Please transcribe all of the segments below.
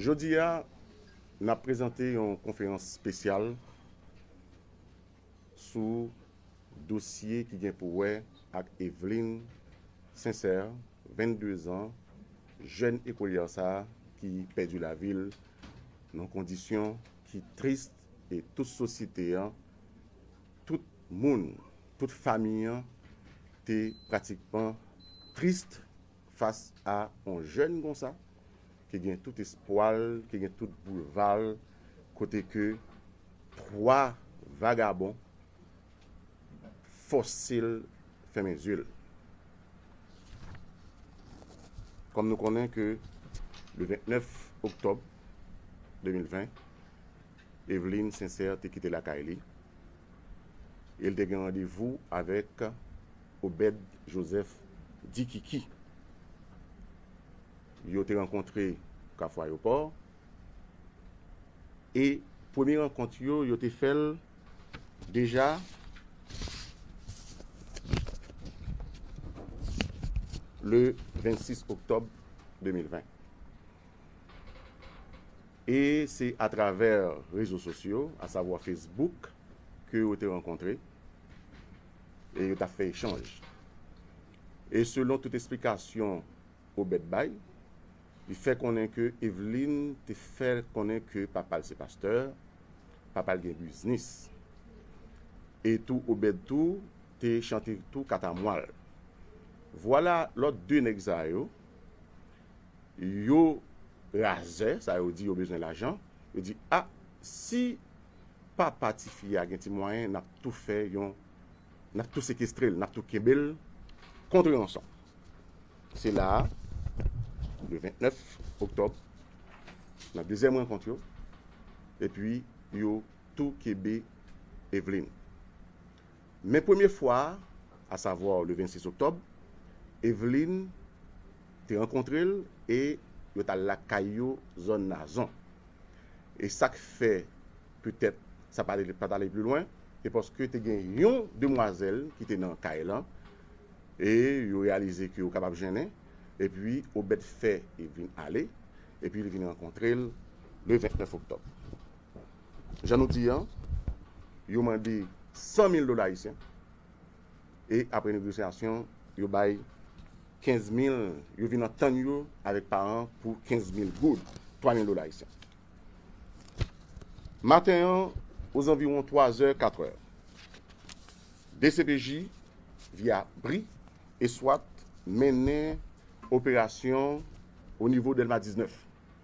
Jodi a, n ap prezante yon konferans spesyal sou dosye ki gen pou wè ak Evelyne Sincère, 22 zan, jèn ekolyè sa a ki pèdi lavi l nan kondisyon ki tris e tout sosyete an, tout moun, tout fami an te pratikman tris Fas a on jèn konsa, ki gen tout espwa l, ki gen tout boulva l, kote ke 3 vagabon fòse l fèmen zye l. Kòm nou konnen ke le 29 oktòb 2020, Eveline Sincère te kite lakay li e l te gen randevou avèk Obed Joseph di ki ki yo te rankontre Kafou Ayopò e premye rankont yo, yo te fè l deja le 26 oktòb 2020. E se atravè rezo sosyo, asavwa Facebook, ke yo te rankontre. e yo ta fè echanj. E selon tout esplikasyon Obed bay, li fè konnen ke Eveline te fè l konnen ke papa l se pastè, papa l gen biznis. E tou Obed tou te chante tou katamwa l. Vwala lòt 2 nèg sa yo Yo razè, sa yo di yo bezwen lajan, yo di ah si papa tifi a gen ti mwayen nap tou fè yon nap tou sekestrel, nap tou kenbel kontre yon san. Se la a le 29 oktòb nan dezyèm rankont yo epi yo tou kebe Evelyne. Men premye fwa a, a savwa le 26 oktòb, Eveline te rankontre l e yo t al lakay yo zòn Nazon. E sa k fè petèt sa pa t ale pli lwen, se paske te gen yon demwazèl ki te nan kay lan e yo reyalize ke yo kapab jennen. Epi Obed fè Eveline ale epi li vin rankontre l le 29 oktòb. Jan nou di an, yo mande 100 mil dola ayisyen e apre negosyasyon yo bay 15 mil, yo vin antann yo avèk paran pou 15 mil goud, 3 mil dola ayisyen. Maten an, ozanviwon 3 zè, 4 è, dcpj, via bri e swat mennen operasyon o nivo Dèlma 19.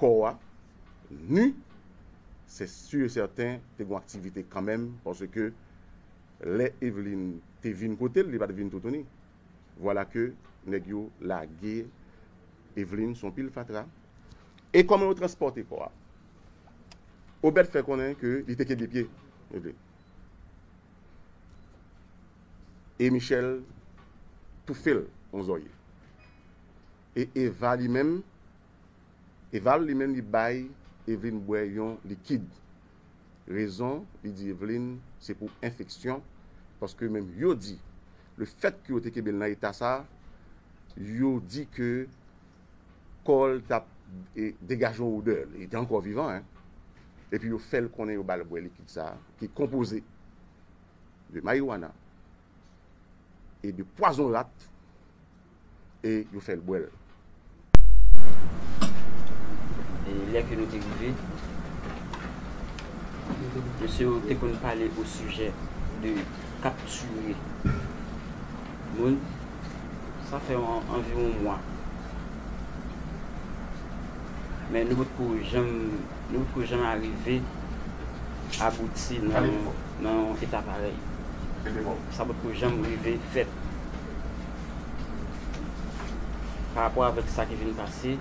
kò a nu se sur et certain te gon aktivite kanmenm paske lè Eveline te vin kotel li pat vin toutouni vwala ke nèg yo lage Eveline son pil fatra e kòman yo transpòte kò a Obed fè konnen ke li te kenbe pye Eveline e Michel toufel on zòrye. E Eva li menm? Eva li menm li bay Evelyne bwè yon likid. Rezon li di Evelyne se pou enfeksyon paske menm yo di le fèt ke yo te kenbe l nan eta sa yo di ke kò l tap degaje yon odè, li te ankò vivan hein. Epi yo fè l konnen yo ba l bwè likid sa ki konpoze de marijuana e de pwazon rat. e yo fè l bwè l. E lè ke nou te rive, mesye yo te konn pale osijè de kaptire moun. Sa fè anviwon mwa. Men nou potko janm, nou potko janm arive abouti nan yon eta parèy. Sa potko janm rive fèt. Pa rapò avèk sa ki vin pase,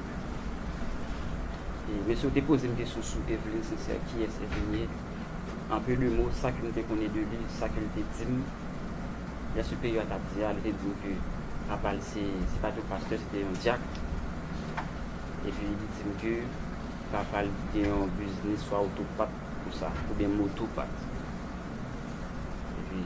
e mensi ou te poze m kesyon sou Evelyne Sincère, kiyès Evelyne ye? An peu de mots, sa ke m te konnen de li, sa ke l te di m, lè Superior a t ap di a, li te di m ke papa l se, se pa te yon pastè, se te yon dyak. Epi li di m ke papa l gen yon biznis swa oto pat konsa, oubyen moto pat. Epi.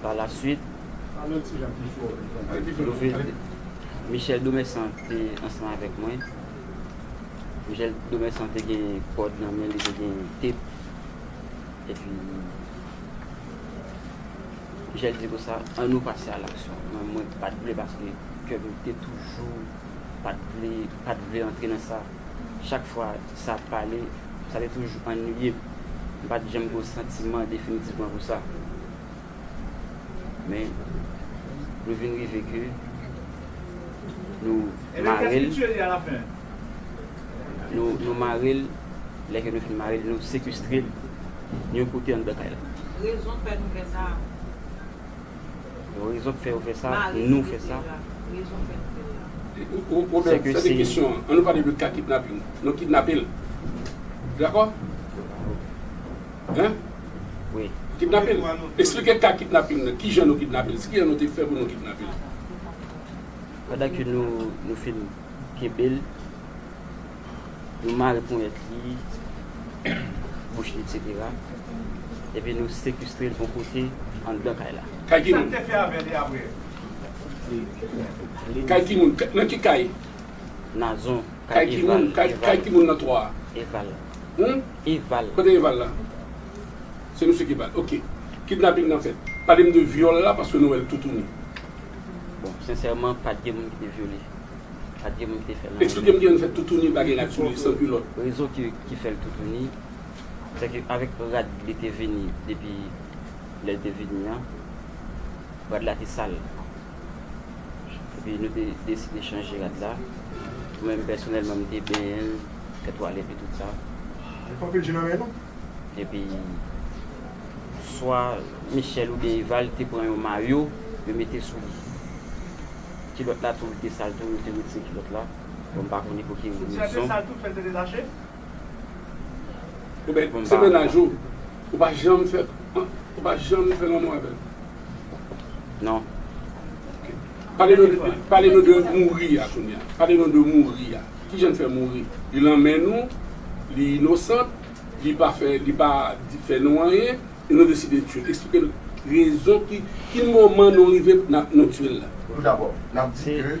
Pa la suit, Michel Domerçant te ansanm avèk mwen. Michel Domerçant te gen kòd nan men li, te gen tep. E pi, Michel di konsa, an nou pase a laksyon. Men mwen pa t vle paske kè m te toujou pa t vle, pa t vle antre nan sa. Chak fwa sa ap pale, sa te toujou annuiye m. M pa t janm gen yon santiman definitivman pou sa. Men nou vin rive ke nou mare l, nou mare l, lè ke nou fin mare l, nou sekestre l yon kote anndan kay la. Rezon k fè nou fè sa? Rezon k fè yo fè sa, nou fè sa. Rezon k fè nou fè sa. Ou ou menm, fè de kesyon an. An nou pale de ka kidnaping. Nou kidnape l. Dakò? Hein? wi. Kidnape l? Esplike ka kidnaping nan, kijan nou kidnape l, skijan nou te fè pou nou kidnape l? Pandan ke nou nou fin kenbe l, nou mare ponyèt li, bouch li eksetera, epi nou sekestre l yon kote anndan kay la. Kay ki moun? Kay ki moun? Nan ki kay? Nazon, Kay ki moun? Kay ki moun nan 3 a? Eval. Hum? Eval. Kote Eval la? Se misye ki bal. Ok. Kidnaping nan fèt. Pale m de vyòl la paske nou wè l toutouni. Bon, sensèman, pa t gen moun ki te vyole. Pa t gen moun ki te fè nan. Eksplike m ki jan nou fè toutouni pa gen rad sou li, san kilòt. Rezon ki fè l toutouni, se ke avèk rad li te vini depi lè l te vini an, rad la te sal. Epi nou te deside chanje rad la. Mwen menm pèsonèlman m te benyen l, fè twalèt li tout sa. Epi swa Michel oubyen Eval te pran yon mayo yo mete sou li. Kilòt la tou li te sal tou, yo te retire kilòt la. Bon m pa konnen pou ki rezon. Ou bèt pou m se mennaj ou ou pa janm fè ou pa janm fè lanmou avèl? Non. Pale nou de pale nou de mouri a kounya pale nou de mouri a kijan n fè mouri li lan men nou li inosant li pa fè li pa fè nou anyen e nou deside tiyel esplike n rezon ki ki moman nou rive nan nou tiyel la. Tout dabò n ap di ke.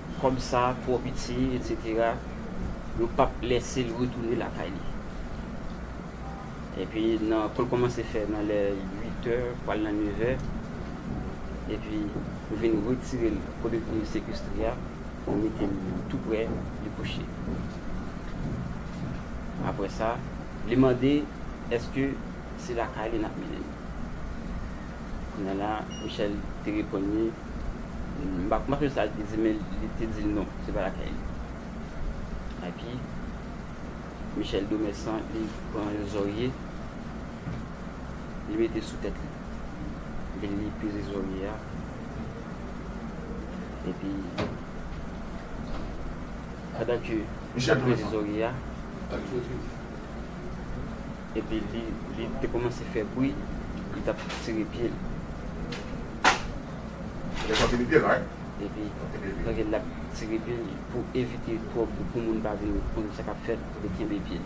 Kòb sa twò piti etc yo pap lèsel retounen lakay li epi nan kòl kòmanse fè nan lè 8 è pwal nan 9 è epi yo vin retirel kote pou yo sekestre a yo metel tou prè li kouche aprè sa li mande eske se lakay li nap menenl kounya la Michèl te reponn li. M pa konprann sa l te di men li te di l non, se pa lakay li. Epi, Michel Domessan li pran yon zòrye, li mete sou tèt li. Epi li peze zòrye a. Epi, pandan ke li peze zòrye a. Epi li te kòmanse fè bwi, li t ap tire pye l. Epi l ap tire pye l pou evite twòp bri, pou moun pa vin konn sa k ap fèt, pou l te kenbe pye l.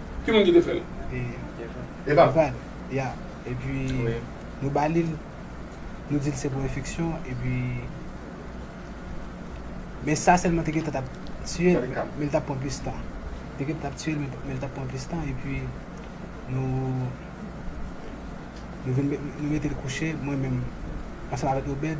Ki moun ki te fèl? Evan. Evan, ya. Epi nou ba li l, nou di l se pou enfeksyon, epi men sa sèlman te gentan t ap tiye l, men l t ap pran plis tan. Te gentan t ap tiye l, men l t ap pran plis tan, epi nou vin, nou mete l kouche, mwen menm, ansanm avèk Obed.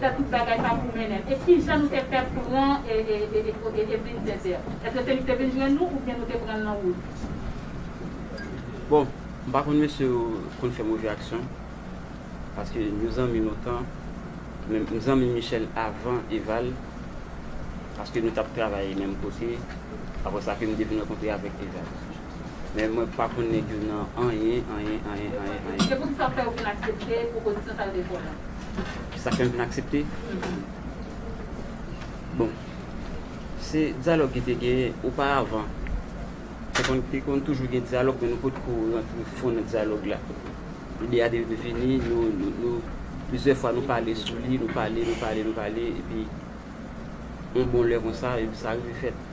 fè tout bagay pa pou mennen e kijan nou te fè pran Evelyn Sincère eske se li ki te vin jwenn nou oubyen nou te pranl nan wout. Bon m pa konn mesye yo konn fè move aksyon paske nou zanmi lontan men m zanmi Michel avan Eval paske nou tap travay menm kote aprè sa ke m te vin rankontre avèk Eval. Men mwen pa konn nèg yo nan anyen, anyen, anyen, anyen, anyen. Gen moun sa fè yo vin aksepte pwopozisyon sal de fò lan. Sa fè m vin aksepte? Bon, se dyalòg ki te genyen oparavan. Te konn toujou gen dyalòg men nou pot ko rantre fon nan dyalòg la. Lide a te vini, nou plizyè fwa nou pale sou li, nou pale, nou pale, nou pale epi yon bon lè konsa, sa rive fèt.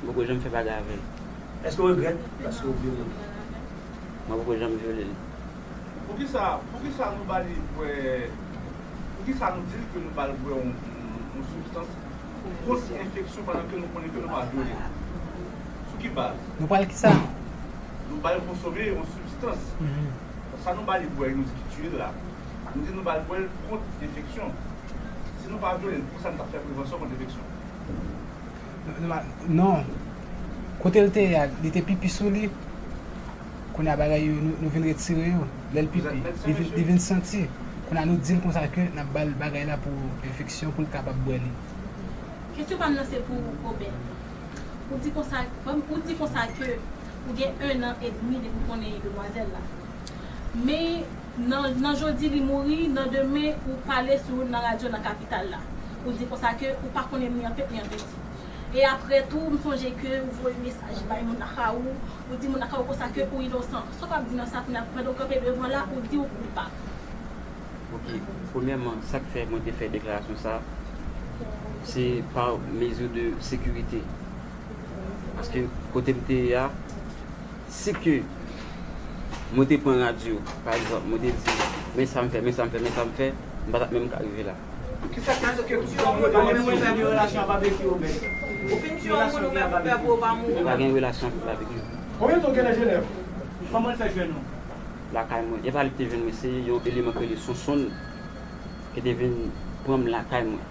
M poko janm fè bagay avè l. Èske w regrèt paske w vyole l? Mwen poko janm vyole l. Poukisa poukisa nou ba li bwè poukisa nou di l ke nou ba l bwè yon yon sibstans pou kont enfeksyon pandan ke nou konnen ke nou pa vyole l? Sou ki baz? Nou ba l kisa? Nou ba l konsome yon sibstans. Sa nou ba li bwè nou di ki tiye l la, nou di nou ba l bwè l kont enfeksyon. Si nou pa vyole l, poukisa nou t ap fè prevansyon kont enfeksyon? Non Kote l te ye a li te pipi sou li Kounye a bagay yo nou vin retire yo Lè l pipi li vin santi Kounye a nou di l konsa ke n ap ba l bagay la pou enfeksyon pou l kapab bwè li Kesyon pa m nan se pou Obed Ou di konsa Ou di konsa ke ou gen 1 an edmi depi w konnen demwazèl la Men Nan nan jodi li mouri, nan demen ou pale sou nan radyo nan kapital la. Ou di konsa ke ou pa konnen ni an tèt ni an piti. E aprè tou m sonje ke ou voye mesaj bay moun nan ka ou, ou di moun nan ka ou konsa ke ou inosan. Sa w ap di nan sa kounya pandan ou kanpe devan la ou di ou koupab? Ok, premyèman sa k fè mwen te fè deklarasyon sa se pa mezi de sekirite. Paske kote m te ye a Si ke mwen te pran radyo, pa egzanp, mwen te di, men sa m fè, men sa m fè, men sa m fè, m pa t ap menm ka rive la. Ki sa k te fè ke w di, mwen pa menm rive la? Ki relasyon ak Babeki ou menm? Ou fin di yon moun ou menm ou pè pou ou pa mouri? M pa gen relasyon ak Babeki. Konbyen tan w genlè Jenèv? Kòman l fè jwenn ou? Lakay mwen. E pa li ki te jwenn mwen, se yon eleman ki rele Sonsonn ki te vin pran m lakay mwen.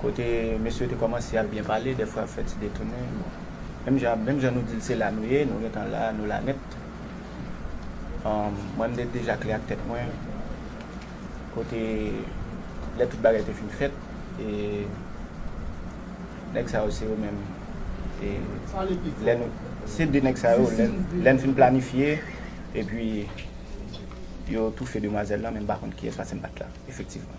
Kote mesye yo te komanse ap byen pale dèfwa yo fè ti detounen bon menm jan menm jan nou dil se la nou ye nou gentan la nou la nèt humm mwen mte deja klè ak tèt mwen kote lè tout bagay te fin fèt e nèg sa yo se yo menm e lè nou se de nèg sa yo lèn fin planifye epi yo toufe demwazèl lan men mpa konn kiyès paskem pat la efektivman.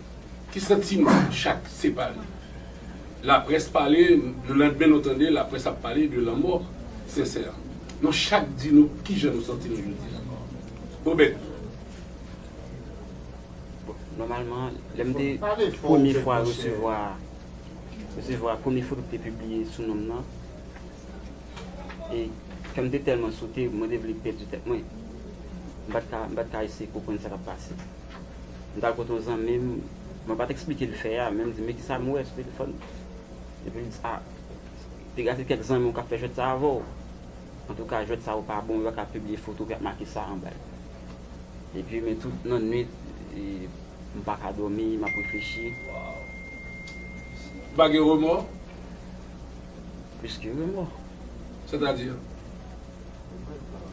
Ki santiman chak separe. Laprès pale le landmen nou tande laprès ap pale de lanmò sensè nou chak di nou kijan nou santi nou jodi a Obed. Bon nòmalman lè m te premye fwa resevwa resevwa premye foto ki te pibliye sou non m nan e kè m te tèlman sote mwen te vle pèdi tèt mwen m pat ka m pat ka eseye konprann sa k ap pase. M t al kote yon zanmi m, mwen pa t eksplike li fè a, men m di, men kisa m wè sou telefòn m. Epi li di, a, te ka se kèk zanmi w k ap fè jwèt sa a avè w. Antouka, jwèt sa yo pa bon, yo pa ka pibliye foto ki ap make sa anba yo. Epi, men tout nan nuit, m pa ka dòmi, m ap reflechi. Ou pa gen remò? Plis ke remò. Sètadi?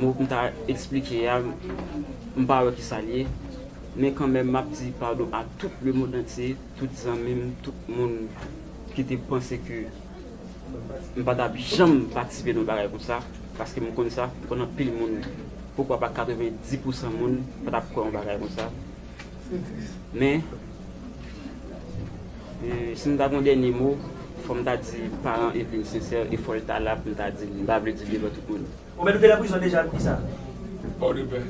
Mo m ta esplike a, m pa wè ki sa l ye. Men kanmenm m ap di padon a tout lemondantye, tout zanmi m, tout moun ki te panse ke m pa t ap janm patisipe nan yon bagay konsa. Paske m konn sa, m konn anpil moun, poukwa pa 90 pousan moun pa t ap kwè yon bagay konsa. Men. Si m ta gen yon dènye mo, fò m ta di paran Evelyne Sincère e fò l ta la pou m ta di l, m pa vle di l devan tout moun. Ou menm nou te nan prizon deja depi sa? Pòdepè.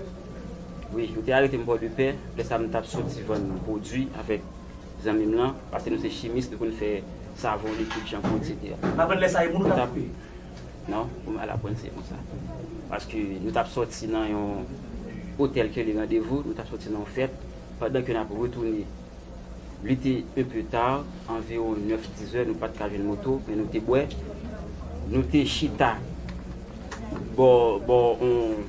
Wi, yo te arete m Pòdepè, lè sa m t ap soti vann pwodui avèk zanmi m lan, pase nou se chimis, nou konn fè savon, likid, chanpou, eksetera. M aprann lè sa e moun ou t ap koupe? Non, ou mal aprann se konsa. Paske nou t ap soti nan yon otèl kele randevou, nou t ap soti nan yon fèt, pandan ke n ap retounen. Li te un peu tard, anviron 9, 10 heures, nou pat ka jwenn moto, men nou te bwè. Nou te chita bò, bò on,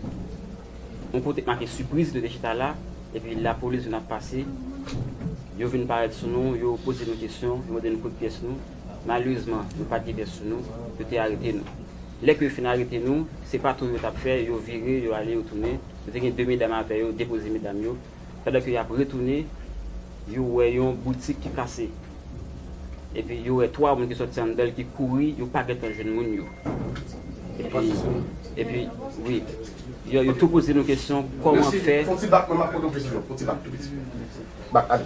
on kote k make Surprise, nou te chita la, epi lapolis vin ap pase, yo vin parèt sou nou, yo poze nou kesyon, yo mande nou kot pyès nou. Malerezman, nou pat gen pyès sou nou, yo te arete nou. Lè ke yo fin arete nou, se pa tour yo t ap fè, yo vire, yo ale, yo tounen. Yo te gen 2 medam avè yo, depoze medam yo. Pandan ke yap retounen, yo wè yon boutik ki kase. Epi yo wè 3 moun ki sòti anndan l ki kouri, yo pa gentan jwenn moun yo. Epi, epi, wi. Yo, yo tou poze nou kesyon, kòman fè. Fon ti bak mwen map poze w kesyon. Fon ti bak tou piti. Bak ale.